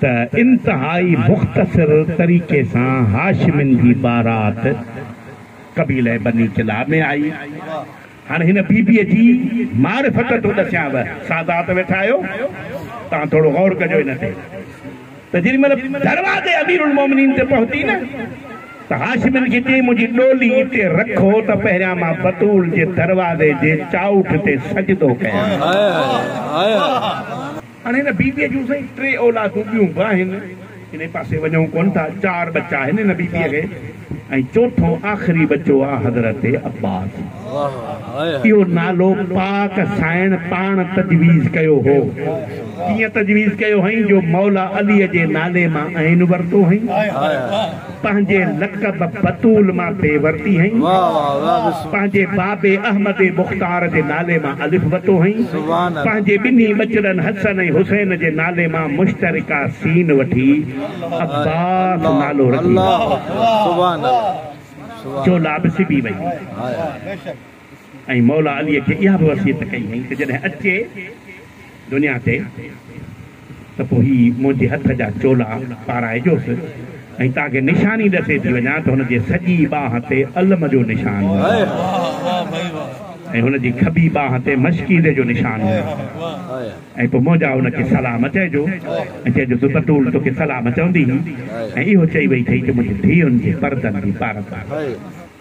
ته انتهائي مختصر طريقي سان هاشمين جي بارات قبيله بني ڪلاب ۾ آئي. هاڻي هن بي بي جي معرفت ٿو ڏسيانو. سادات ويٺا آهيو، توهان ٿورو غور ڪجو ان تي ته جيڏي مهل دروازي اميرالمومنين تي پهتي نه ته هاشمين کي چيائين منهنجي ڏولي اتي رکو ته پهريان مان بتول جي دروازي جي چائوٺ تي سجدو ڪيان. هاڻي هن بيبيء جون سائين ٽي اولادون ٻيون به آهن. انهي پاسي وڃون ڪونه ٿا. چار ٻچا آهن هن بيبيء کي ۽ چوٿون آخري ٻچو آ حضرت عباس. اهو نالو پاڪ سائڻ پاڻ تجويز ڪيو هو. ڪيئن تجويز ڪيو هئائين جو مولا عليء جي نالي مان عين ورتو هئائين. پنهنجي لقب بتول مان بي ورتي هئين. پنهنجي بابي احمد مختار جي نالي مان الف وتو هئين. پنهنجي ٻنهي ٻچڙن حسن ۽ حسين جي نالي مان مشترڪه سين وٺي عباس نالو رکي جو لابسي به وئي. ۽ مولا علي کي اها به وصيت ڪئي هئائين ته جڏهن اچي دنيا تي ته پوء هي منهنجي هٿ جا چولا پارائجوس ۽ تانکي نشاني ڏسي ٿي وڃان ته هن جي سڄي ٻانهن تي علم جو نشان هوندو ۽ هن جي کٻي ٻانهن تي مشڪيزي جو نشان هوندو ۽ پوء منهنجا هن کي سلام چئجو ۽ چئجو ته بتول توکي سلام چوندي هئي ۽ اهو چئي وئي ٿئي ته منهنجي ڌيئن جي پردن جي پارت آهي.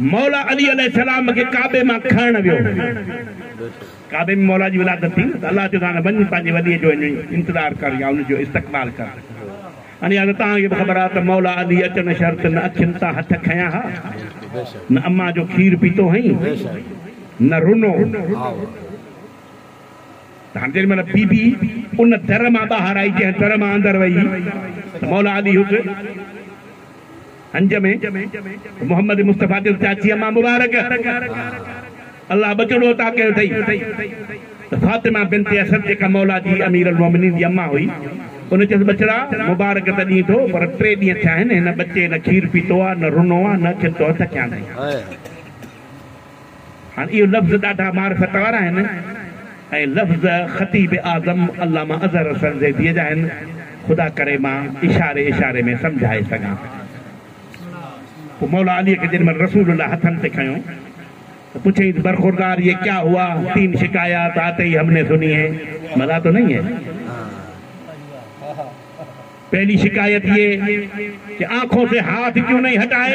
مولا علي عليه السلام کي ڪعبي مان کڻڻ ويو. ڪعبي ۾ مولا جي ولادت ٿي نه ته الله چيو ته هاڻي وڃ پنهنجي ولي جو هينئي انتظار ڪر يا ان جو استقبال ڪر. اڻيا ته توهان کي به خبر آهي ته مولا علي اچڻ شرط نه اکين تان هٿ کنيا ها، نه امان جو کير پيتو هئين، نه رنو هو. ته هاڻي جيڏي مهل بي بي ان در مان ٻاهر آئي جنهن در مان اندر وئي ته مولا علي هت. هنج ۾ محمد مصطفيٰ دل چاچيء مان مبارڪ الله ٻچڙو عطا ڪيو اٿئي ته فاطمه بنت اسد جيڪا مولا جي امير المؤمنين جي اما هئي، ان چيس ٻچڙا مبارڪ ته ڏين ٿو پر ٽي ڏينهن ٿيا آهن هن ٻچي نه کير پيتو آهي، نه رنو آهي، نه کين تو هٿ ڪيا اٿئي. هاڻ اهي لفظ ڏاڍا معرفت وارا آهن ۽ لفظ خطيب اعظم علامه اظهر حسن زيديء جا آهن، خدا ڪري مان اشاري اشاري ۾ سمجهائي سگهان. پوء مولا عليء کي جيڏي مهل رسول الله هٿن تي کنيو ته پڇيائينس، برخوردار يه ڪيا هوا؟ تين شڪايات آتي هي همني سني هين، مزا تو نهين هين؟ پهلي شڪايت يه ڪي آنکون سي هاٿ ڪيون نهين هٽائي؟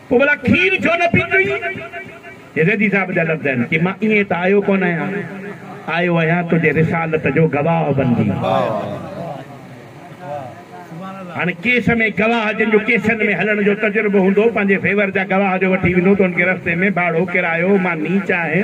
پوء ڀلا کير ڇو نه پيتئي؟ يزيدي صاحب جا لفظ آهن، چي مان ائين ته آيو ڪونه آهيان، آيو آهيان تنهنجي رسالت جو گواهه بنجي. هاڻي ڪيس ۾ گواهه جن جو ڪيسن ۾ هلڻ جو تجربو هوندو، پنهنجي فيور جا گواهه جو وٺي ويندو، ته ان کي رستي ۾ ڀاڙو، ڪرايو، ماني، چانهه،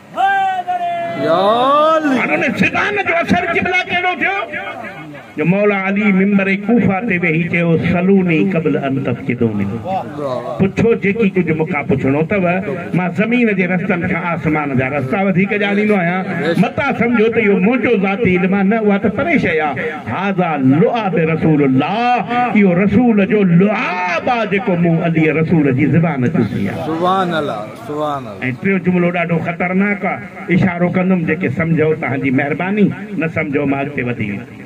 هاڻ ان زبان جو اثر قبله ڪهڙو ٿيو جو مولا علي منبر ڪوفه تي ويهي چيو سلوني قبل ان تفقدوني پڇو جيڪي ڪجهه مون کان پڇڻو اٿو مان زمين جي رستن کان آسمان جا رستا وڌيڪ ڄاڻيندو آهيان متان سمجهو ته اهو منهنجو ذاتي علم آهي نه اها ته پري شيء آهي هذا لعاب رسول الله اهو رسول جو لعاب آهي جيڪو مون علي رسول جي زبان چوسي آهي. سبحان الله. ۽ ٽيون جملو ڏاڍو خطرناڪ آ اشارو ڪندم جيڪي سمجهو تهان جي مهرباني نه سمجهو مان اڳتي وڌي ويندم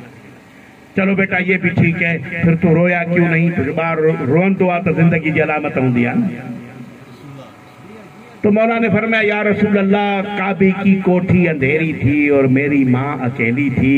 چلو بيٽا يي بي ٺيڪ هي پھر تون رويا ڪيون نهين ڇو جو ٻار روئندو آ ته زندگي جي علامت هوندي آ نه تو مولا ني فرمايا يا رسول الله ڪعبي ڪي ڪوٺي انڌيري ٿي اور ميري مان اڪيلي ٿي.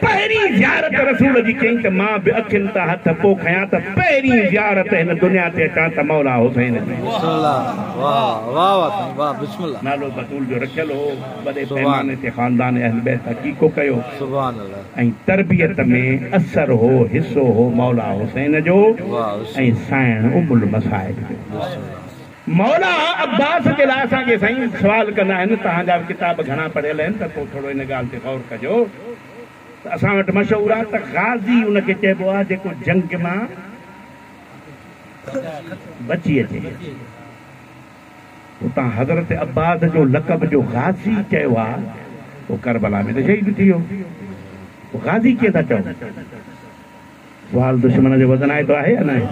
پهرين زيارت رسول جي ڪيائين ته مان به اکين تان هٿ پو کنيان ته پهرين زيارت هن دنيا تي اچان ته مولا حسين جي. بسم الله واه واه واه سائين واه بسم الله. نالو بتول جو رکيل هو وڏي پيماني تي خاندان اهل بيت عقيقو ڪيو ۽ تربيت ۾ اثر هو حصو هو مولا حسين جو ۽ سائڻ ام المصائب جو. مولا عباس جي لاء اسان کي سائين سوال ڪندا آهن توهان جا به ڪتاب گهڻا پڙهيل آهن ته پوء ٿورو ان ڳالهه تي غور ڪجو ته اسان وٽ مشهور آهي ته غازي ان کي چئبو آهي جيڪو جنگ مان بچي اچي اتان حضرت عباس جو لقب جو غازي چيو آهي هو ڪربلا ۾ ته شهيد ٿي ويو غازي ڪيئن ٿا چئون. سوال دشمن جو وزن آئتو آهي يا ناهي؟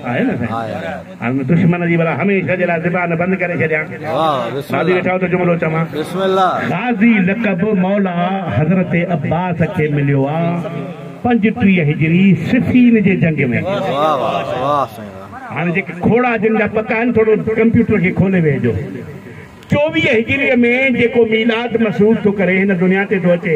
آهي نه سائين. هاڻ دشمن جي بلا هميشه جي لاء زبان بند ڪري ڇڏيان. راضي ويٺا آهيو ته جملو چوان. غازي لقب مولا حضرت عباس کي مليو آ پنج ٽيهه هجري صفين جي جنگ ۾. هاڻ جيڪي کوڙا جن جا پڪا آهن ٿورو ڪمپيوٽر کي کولي ويهجو. چوويهه هجري ۾ جيڪو ميلاد مسعود ٿو ڪري هن دنيا تي ٿو اچي.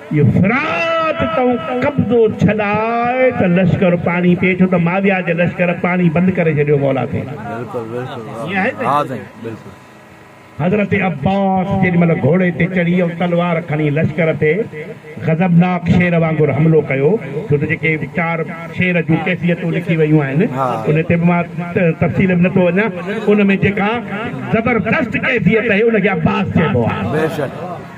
اهو فرات تون قبضو ڇڏاء ته لشڪر پاڻي پئي ٿو ته معاويه جي لشڪر پاڻي بند ڪري ڇڏيو مولا تي حضرت عباس جيڏي مهل گهوڙي تي چڙهي ۽ تلوار کڻي لشڪر تي غضبناڪ شير وانگر حملو ڪيو ڇو ته جيڪي چار شير جون ڪيفيتون لکي ويون آهن ان تي به مان تفصيل ۾ نٿو وڃان ان ۾ جيڪا زبردست ڪيفيت آهي ان کي عباس چئبو آهي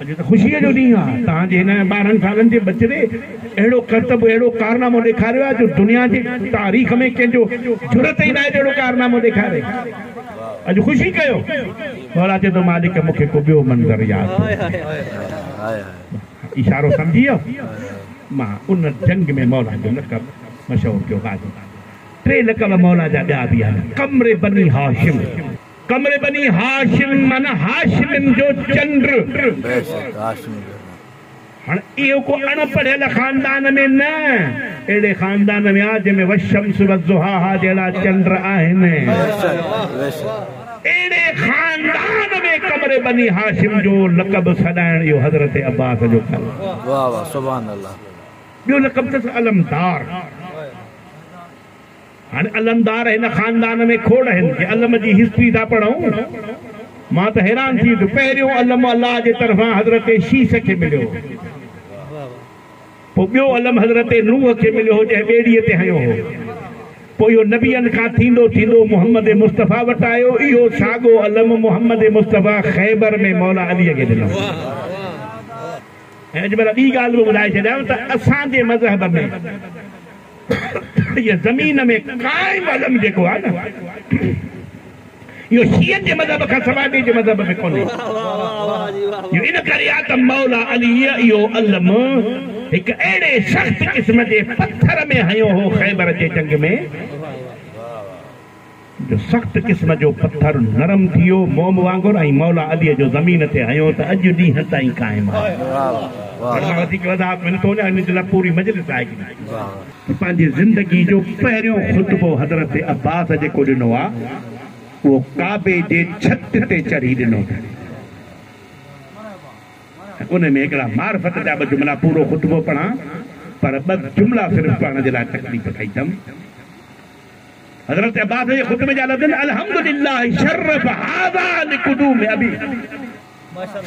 اڄ ته خوشيء جو ڏينهن آهي. توهان جي هن ٻارهن سالن جي ٻچڙي اهڙو ڪرتب، اهڙو ڪارنامو ڏيکاريو آهي جو دنيا جي تاريخ ۾ ڪنهن جو جرئت ئي ناهي جو اهڙو ڪارنامو ڏيکاري. اڄ خوشي ڪيو. مورا چيو ته مالڪ مون کي ڪو ٻيو منظر ياد ٿو اچي. اشارو سمجهي ويو. مان ان جنگ ۾ مولا جو لقب مشهور ٿيو غازي. ٽي لقب مولا جا ٻيا به آهن، قمر بني هاشم. قمر بني هاشم معنيٰ هاشمين جو چنڊ. بيشڪ هاشمين جو چنڊ. هاڻ اهو ڪو اڻ پڙهيل خاندان ۾ نه اهڙي خاندان ۾ آ جنهن ۾ والشمس وضحاها جهڙا چنڊ آهن. بيشڪ بيشڪ. اهڙي خاندان ۾ قمر بني هاشم جو لقب سڏائڻ اهو حضرت عباس جو ڪم هو. واهه واهه سبحان الله. ٻيو لقب اٿس علمدار. هن علمدار هن خاندان ۾ کوڙ آهن جي علم جي هسٽري ٿا پڙهون مان ته حيران ٿي ويو پهريون علم الله جي طرفان حضرت شيس کي مليو هو پوء ٻيو علم حضرت نوح کي مليو هو جنهن ٻيڙي تي هنيو هو پوء اهو نبين کان ٿيندو ٿيندو محمد مصطفيٰ وٽ آيو اهو ساڳو علم محمد مصطفيٰ خيبر ۾ مولا علي کي ڏنو ۽ اڄ ڀلا ٻي ڳالهه به ٻڌائي ڇڏيان ته اسان جي مذهب ۾ هيء زمين ۾ قائم علم جيڪو آهي نه، اهو شيعن جي مذهب کان سواء ٻئي جي مذهب ۾ ڪونهي. اهو ان ڪري آهي ته مولا عليء اهو علم هڪ اهڙي سخت قسم جي پٿر ۾ هنيو هو خيبر جي جنگ ۾، جو سخت قسم جو پٿر نرم ٿيو موم وانگر ۽ مولا علي جو زمين تي هنيو ته اڄ ڏينهن تائين قائم آهي. هن مان وڌيڪ وضاحت ملي ٿو وڃي ان جي لاء پوري مجلس لائق ناهي. پنهنجي زندگي جو پهريون خطبو حضرت عباس جيڪو ڏنو آهي اهو ڪعبي جي ڇت تي چڙهي ڏنو اٿن ۽ ان ۾ هڪڙا معرفت جا ٻه جملا پورو خطبو پڙهان پر ٻه جملا صرف پڙهڻ جي لاء تڪليف ڪئي اٿم. حضرت عباس جي خطبي جا لفظ آهن الحمد لله شرف هذا لقدوم ابي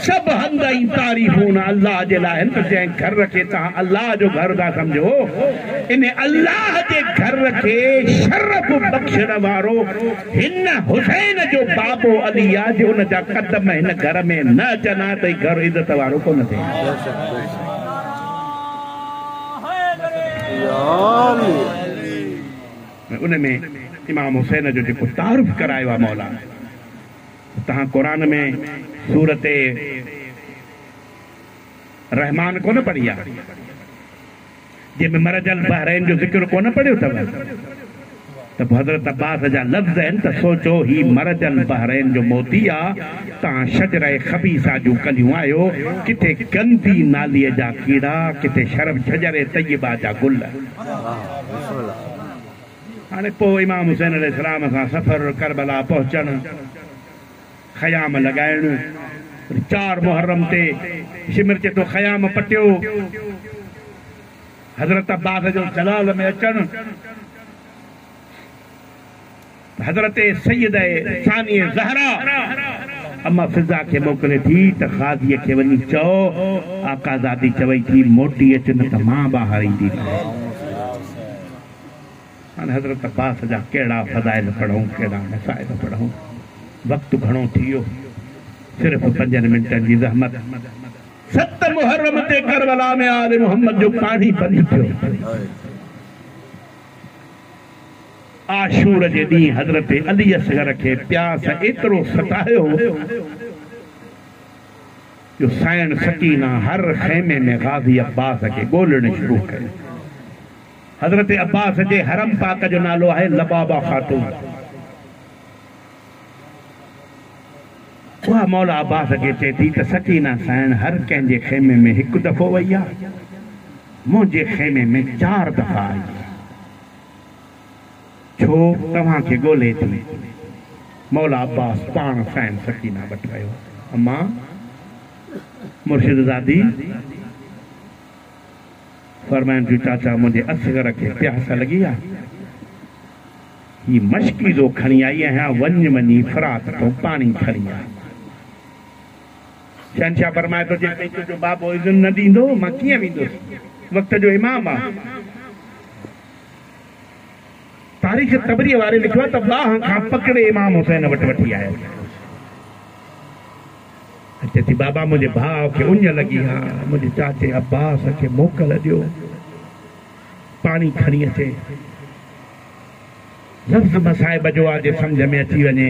سڀ حمد ۽ تعريفون الله جي لاء آهن ته جنهن گهر کي توهان الله جو گهر ٿا سمجهو ان الله جي گهر کي شرف بخشڻ وارو هن حسين جو بابو علي آ جي ان جا قدم هن گهر ۾ نه اچن ها ته هي گهر عزت وارو ڪونه ٿئي ها. ۽ ان ۾ امام حسين جو جيڪو تعارف ڪرايو آهي مولا سو توهان قرآن ۾ سورت رحمان ڪونه پڙهي آهي جنهن ۾ مرج البحرين جو ذڪر ڪونه پڙهيو اٿو ته پوء حضرت عباس جا لفظ آهن ته سوچو هي مرج البحرين جو موتي آهي توهان شجره خبيثه جون ڪليون آهيو ڪٿي گندي نالي جا ڪيڙا ڪٿي شرف شجره طيبه جا گل. هاڻي پوء امام حسين عليه السلام سان سفر، ڪربلا پهچڻ، خيام لڳائڻ، وري چار محرم تي شمر چي ٿو خيام پٽيو، حضرت عباس جو جلال ۾ اچڻ. حضرت سيده ثانيه زهره اما فضه کي موڪلي ٿي ته قاضي کي وڃي چئو آقازادي چوي ٿي موٽي اچ نه ته مان ٻاهر ايندي نه آهي. هاڻ حضرت عباس جا ڪهڙا فضائل پڙهون ڪهڙا مصائب پڙهون وقت گهڻو ٿي ويو صرف پنجن منٽن جي زحمت. ست محرم تي ڪربلا ۾ آل محمد جو پاڻي بند ٿيو. عاشور جي ڏينهن حضرت علي اصغر کي پياس ايترو ستايو هو جو سائڻ سڪينه هر خيمي ۾ غازي عباس کي ڳولڻ شروع ڪيو. حضرت عباس جي حرم پاڪ جو نالو آهي لبابه خاتون. اها مولا عباس کي چئي ٿي ته سڪينه سائڻ هر ڪنهن جي خيمي ۾ هڪ دفعو وئي آهي، منهنجي خيمي ۾ چار دفعا آئي آهي. ڇو توهان کي ڳولهي ٿي. مولا عباس پاڻ سائين سڪينه وٽ ويو. اما! مرشدزادي فرمائن ٿيون چاچا منهنجي اصغر کي پياس لڳي آ. هي مشڪيزو کڻي آئي آهيان وڃ وڃي فرات تون پاڻي کڻي آ. شهنشاهه فرمائي ٿو، جيستائين تنهنجو بابو اذن نه ڏيندو، مان ڪيئن ويندس؟ وقت جو امام آ. تاريخ طبريء واري لکيو آ ته باهه کان پڪڙي امام حسين وٽ وٺي آيو ۽ چئي ٿي، بابا منهنجي ڀاء کي اڃ لڳي آ، منهنجي چاچي عباس کي موڪل ڏيو پاڻي کڻي اچي. لفظ مصائب جو آ، جي سمجهه ۾ اچي وڃي.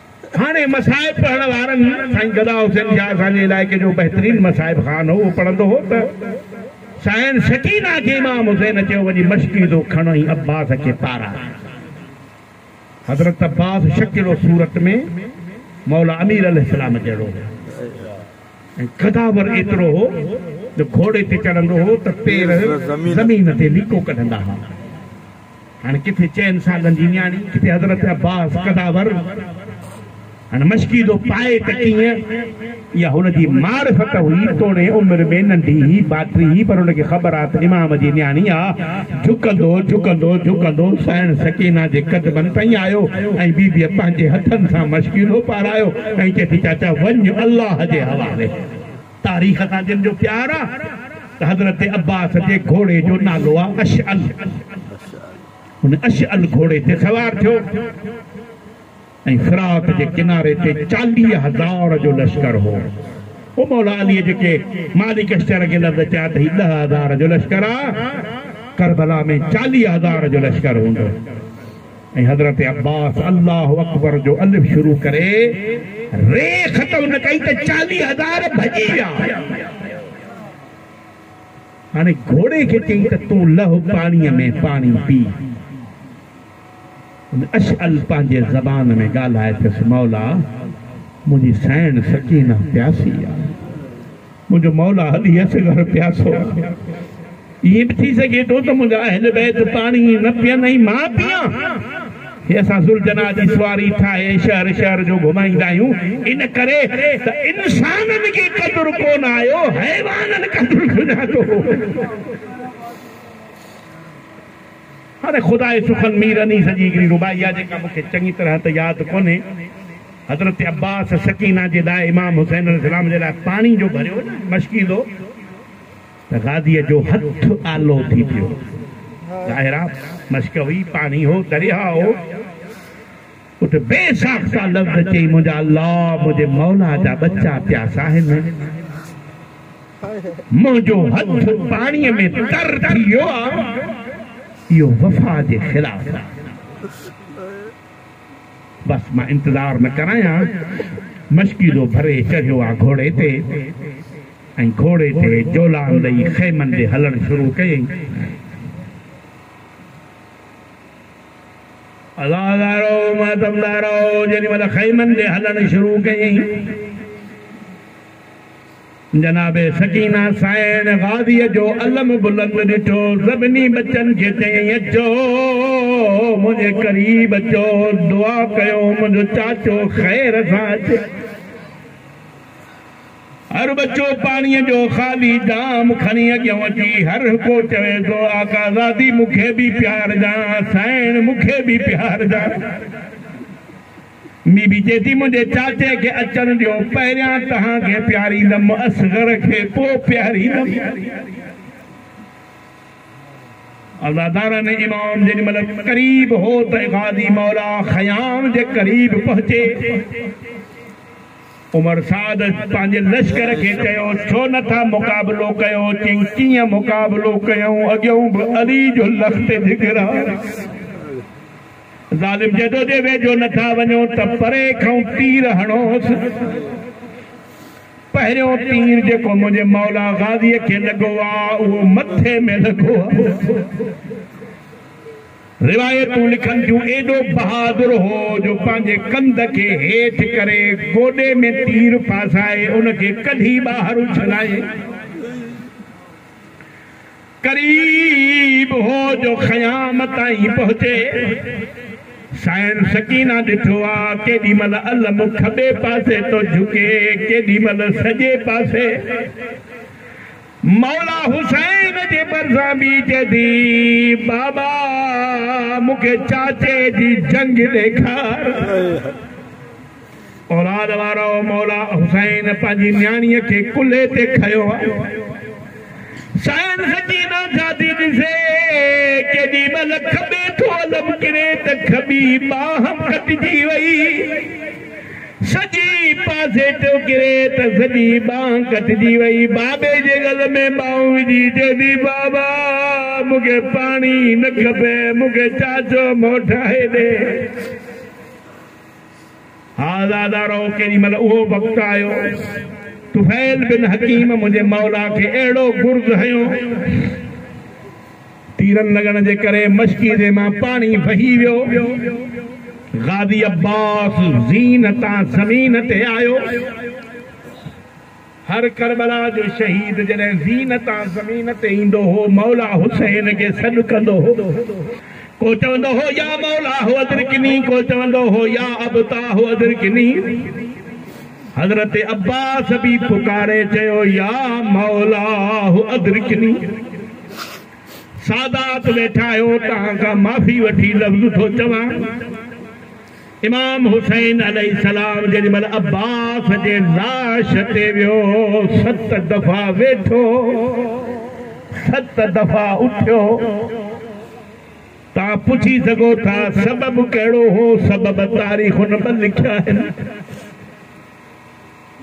هاڻي مصائب پڙهڻ وارن سائين گدا حسين شاهه اسان جي علائقي جو بهترين مصائب خوان هو اهو پڙهندو هو ته سائين سڪينه کي امام حسين اچيو وڃي مشڪيزو کڻ ۽ عباس کي پارا حضرت عباس شڪل و صورت ۾ مولا امير عليه السلام جهڙو هو ۽ قداور ايترو هو جو گهوڙي تي چڙهندو هو ته پير زمين تي ليڪو ڪڍندا ها هن ڪٿي چئن سالن جي نياڻي ڪٿي حضرت عباس قداور هن مشڪيدو پائي ته ڪيئن اها هن جي معرفت هئي توڻي عمر ۾ ننڍي هئي باٽري هئي پر هن کي خبر آهي ته امام جي نياڻي آ جهڪندو جهڪندو جهڪندو سائڻ سڪينه جي قدمن تائين آيو ۽ بيبيء پنهنجي هٿن سان مشڪيدو پارايو ۽ چئي ٿي چاچا وڃ الله جي حوالي. تاريخ سان جن جو پيار آ ته حضرت عباس جي گهوڙي جو نالو آ اشعل هن اشعل گهوڙي تي سوار ٿيو ۽ فرات جي ڪناري تي چاليهه هزار جو لشڪر هو او مولا علي جيڪي مالڪ اشتر کي لفظ چيا ته هي ڏهه هزار جو لشڪر آ ڪربلا ۾ چاليهه هزار جو لشڪر هوندو ۽ حضرت عباس الله اڪبر جو الف شروع ڪري ر ختم نه ڪئي ته چاليهه هزار ڀڄي ويا. هاڻي گهوڙي کي چيائين ته تون لهه پاڻيء ۾ پاڻي پي. ان اشعل پنهنجي زبان ۾ ڳالهائي ٿيس، مولا! منهنجي سئڻ سڪينه پياسي آهي. منهنجو مولا علي اصغر پياسو، ائين به ٿي سگهي ٿو ته منهنجا اهل بيت پاڻي نه پيئن ۽ مان پيان. هي اسان ذوالجناح جي سواري ٺاهي ۽ شهر شهر جو گهمائيندا آهيون، ان ڪري ته انسانن کي قدر ڪونه آيو، حيوانن قدر سڃاتو. پر خداء سخن مير انيس جي هڪڙي رباعي آهي جيڪا مون کي چڱي طرح ته ياد ڪونهي. حضرت عباس سڪينه جي لاء امام حسين عليه السلام جي لاء پاڻي جو ڀريو نه مشڪيندو ته غازيء جو هٿ آلو ٿي پيو. ظاهر آ مشڪ هئي، پاڻي هو، درياهه هو. اٿ بي ساخته لفظ چئي منهنجا الله منهنجي مولا جا ٻچا پيا ساهن منهنجو هٿ پاڻي ۾ تر ٿي ويو آ اهو وفا جي خلاف آ بس مان انتظار نه ڪرايان مشڪيلو ڀري چڙهيو آ گهوڙي تي ۽ گهوڙي تي جولان ڏئي خيمن ڏي هلڻ شروع ڪيئي عزادارو ماتمدارو جيڏي مھل خيمن ڏي ھلڻ شروع ڪيائين، جناب سڪينه سائڻ غازيء جو علم بلند ڏٺو، سڀني ٻچن کي چيائين، اچو منھنجي قريب اچو، دعا ڪيو منھنجو چاچو خير سان اچي. هر ٻچو پاڻيء جو خالي جام کڻي اڳيان اچي هرهڪو چوي ٿو، آقا زادي مون کي به پيارجان، سائڻ مون کي به پيارجان. بي بي چئي ٿي، منهنجي چاچي کي اچڻ ڏيو، پهريان توهان کي پياريندم، اصغر کي پوء پياريندم. عزادارن امام جيڏي مهل قريب هو ته غازي مولا خيام جي قريب پهچي. عمر سعد پنهنجي لشڪر کي چيو، ڇو نه ٿا مقابلو ڪيو؟ چيائين، ڪيئن مقابلو ڪيون؟ اڳيون به علي جو لخت جگر آ. ظالم جدو جي ويجهو نه ٿا وڃو ته پري کانئون تير هڻوس. پهريون تير جيڪو منهنجي مولا غازيء کي لڳو آ، اهو مٿي ۾ لڳو آ. روايتون لکن ٿيون، ايڏو بهادر هو جو پنهنجي ڪنڌ کي هيٺ ڪري گوڏي ۾ تير ڦاسائي ان کي ڪڍي ٻاهر اڇلائي قريب هو جو خيام تائين پهچي. سائين سڪينه ڏٺو آ ڪيڏي مهل علم کٻي پاسي ٿو جهڪي ڪيڏي مهل سڄي پاسي. مولا حسين جي ڀرسان بيهجي ٿي، بابا مون کي چاچي جي جنگ ڏيکار. اولاد وارو مولا حسين پنهنجي نياڻيء کي ڪلهي تي کنيو ها. سائين سڪينه ڇا ٿي ڏسي، ڪيڏي مهل کٻي ٿو علم ڪري ته کٻي ٻانهن ڪٽجي وئي. سڄي پاسي ٿيو ڪري ته سڄي ٻانهن ڪٽجي وئي. بابي جي ڳل ۾ ٻانهون وجهي چئي ٿي، بابا مون کي پاڻي نه کپي، مون کي چاچو مئو ٺاهي ڏي. ها زادا رئو ڪيڏي مهل اهو وقت آيو. طفيل بن حڪيم منهنجي مولا کي اهڙو گرز هنيو. تيرن لڳڻ جي ڪري مشڪيزي مان پاڻي وهي ويو. غازي عباس زين تان زمين تي آيو. هر ڪربلا جو شهيد جڏهن زين تان زمين تي ايندو هو، مولا حسين کي سڏ ڪندو هو. ڪو چوندو هو يا مولا هو ادرڪني، ڪو چوندو هو يا ابتا هو ادرڪني. حضرت عباس به پڪاري چيو يا مولا هو ادرڪني. سادات ويٺا آهيو توهان کان معافي وٺي لفظ ٿو چوان امام حسين عليه السلام جيڏي مهل عباس جي لاش تي ويو ست دفعا ويٺو ست دفعا اٿيو تان پڇي سگهو ٿا سبب ڪهڙو هو سبب تاريخن ۾ لکيا آهن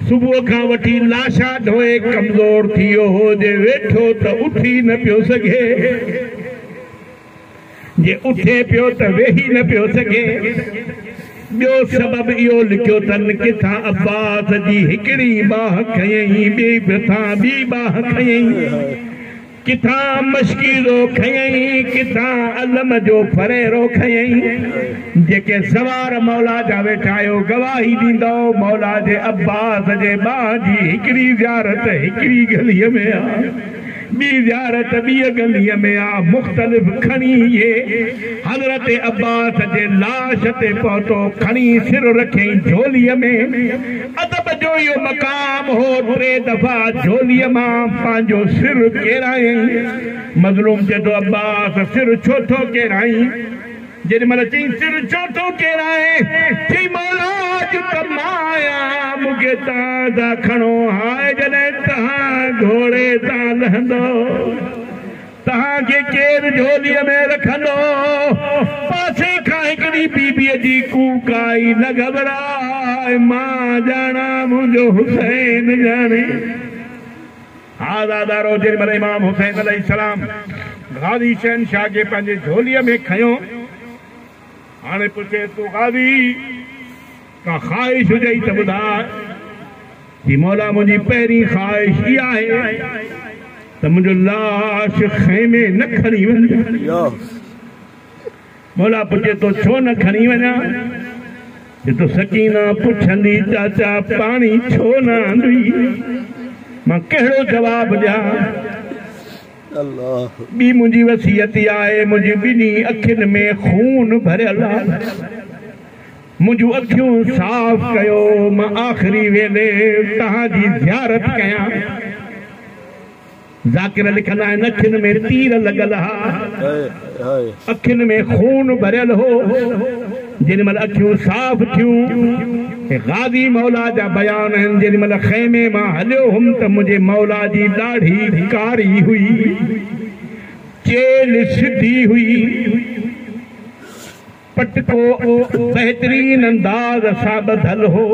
صبح کان وٺي لاشا ڍوئي ڪمزور ٿي ويو هو، جي ويٺو ته اٿي نه پيو سگهي، جي اٿي پيو ته ويهي نه پيو سگهي. ٻيو سبب اهو لکيو تن ڪٿان عباس جي هڪڙي باهه کنيئي، ٻئي ڀرسان ٻي باهه کنيئي. ڪٿان مشڪيزو کنيئي، ڪٿان علم جو ڦريرو کنيئي، جيڪي سوار مولا جا ويٺا آهيو، گواهي ڏيندؤ، مولا جي عباس جي ٻانهن جي هڪڙي زيارت هڪڙي ڳليء ۾ آ، ٻي زيارت ٻيء ڳليء ۾ آ، مختلف کڻي اهي حضرت عباس جي لاش تي پهتو، کڻي سر رکيئي جهوليء ۾. ادب جو اهو مقام هو، ٽي دفعا جهوليء مان پنهنجو سر ڪيرايائين. مظلوم چئي ٿو، عباس! سر ڇو ٿو ڪيرائين؟ جيڏي مهل چيائين، سر ڇو ٿو ڪيرائين؟ چيائين، مولا! اڄ ته مان آهيان، مون کي تان تان کڻو، هاء جڏهن تان گهوڙي تان لهندو. تهان کي ڪير جهوليء ۾ رکندو؟ پاسي کان هڪڙي بيبيء جي ڪوڪ آئي، نه گهٻراء، مان ڄاڻان، منهنجو حسين ڄاڻي. ها زادارو، جنهن مهل امام حسين عليه السلام غازي شهنشاهه کي پنهنجي جهوليء ۾ کنيو، هاڻي پڇين ٿو قاضي ڪا خواهش هجئي ته ٻڌاء. چي مولا منهنجي پهرين خواهش اها آهي ته منهنجو لاش خيمي نه کڻي وڃجان. مولا پڇي ٿو ڇو نه کڻي وڃان؟ چي ٿو سڪينه پڇندي چاچا پاڻي ڇو نه آندئي؟ مان ڪهڙو جواب ڏيان؟ الله. ٻي منهنجي وصيت اها آهي، منهنجي ٻنهي اکين ۾ خون ڀريل آهي، منهنجون اکيون صاف ڪيو، مان آخري ويلي توهان جي زيارت ڪيان. ذاڪر لکندا آهن، اکين ۾ تير لڳل ها. اکين ۾ خون ڀريل هو. جيڏي مهل اکيون صاف ٿيون ۽ غازي مولا جا بيان هن جيڏي مهل خيمي مان هليو هوم ته منهنجي مولا جي ڏاڙهي ڪاري هئي، چيلهه سڌي هئي. پٽڪو بهترين انداز سان ٻڌل هو.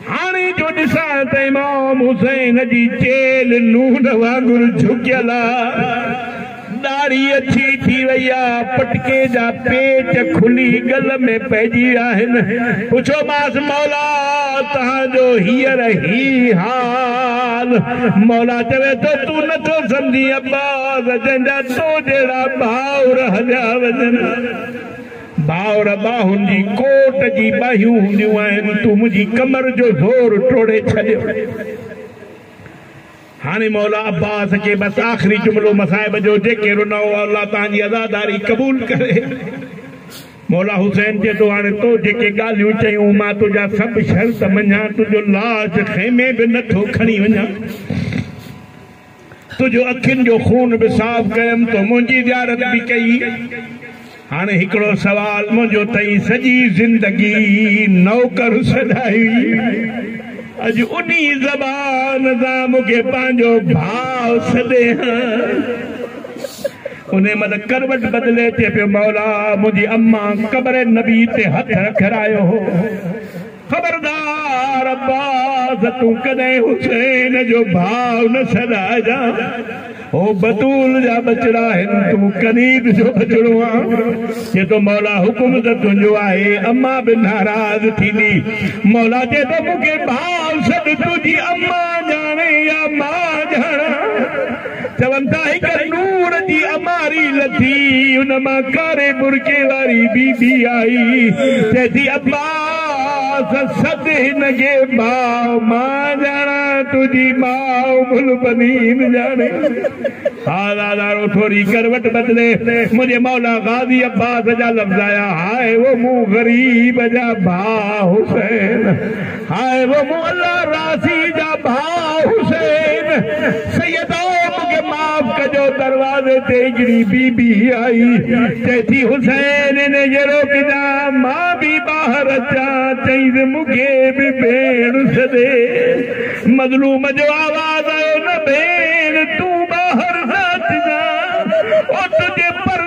هاڻي جو ڏسان ته امام حسين جي چيلهه نون وانگر جهڪيل آ، ڏاڙهي اڇي ٿي وئي آ، پٽڪي جا پيچ کلي ڳل ۾ پئجي ويا آهن. پڇيومانس، مولا توهان جو هينئر هي حال؟ مولا چوي ٿو، تون نٿو سمجهين ابا! وجن جا تو جهڙا ڀائر هليا وجن ڀائر ٻاهن جي ڪوٽ جي ٻاهيون هونديون آهن تون منهنجي ڪمر جو زور ٽوڙي ڇڏيو هاڻي مولا عباس کي بس آخري جملو مصائب جو جيڪي رنو الله تان جي عزاداري قبول ڪري مولا حسين چي تو هاڻي تو جيڪي ڳالهيون چيون مان تنهنجا سڀ شرط مڃان تنهنجو لاش خيمي به نٿو کڻي وڃان تنهنجو اکين جو خون به صاف ڪيم تو منهنجي زيارت به ڪئي هاڻي هڪڙو سوال منهنجو تئين سڄي زندگي نوڪر سڏائي اڄ انهي زبان سان مون کي پنهنجو ڀاء سڏي ها انهي مهل ڪروٽ بدلي چئي پيو مولا منهنجي امان قبر نبي تي هٿ رکرايو هو. خبردار عباس تون ڪڏهن حسين جو ڀاء نه سڏائجان هو بتول جا ٻچڙا آهن تون قريب جو ٻچڙو آن چي ٿو مولا حڪم ته تنهنجو آهي اما به ناراض ٿيندي مولا چي ٿو مون کي ڀاء سڏ تنهنجي اما ڄاڻي يا مان ڄاڻان چون ٿا هڪ نور جي اماري لٿي ان مان ڪاري برقعي واري بي بي آئي چئي ٿي عباس سڏ هن کي ماء مان ڄاڻا تنهنجي ماء مل بنين ڄاڻي ها زادارو ٿوري ڪروٽ بدلي منهنجي مولا غازي عباس جا لفظ آيا هاء او مون غريب جا ڀاء حسين هاء و مولا راضي جا ڀاء حسين سيد آء مونکي معاف ڪجو دروازي تي هڪڙي بي بي آئي چئي ٿي حسين ان جي روڪ جان مان به ٻاهر اچان چئينس مونکي به ڀيڻ سڏي مظلوم جو آواز آيو نه ڀيڻ تون ٻاهر نه اچجان او تنهنجي پر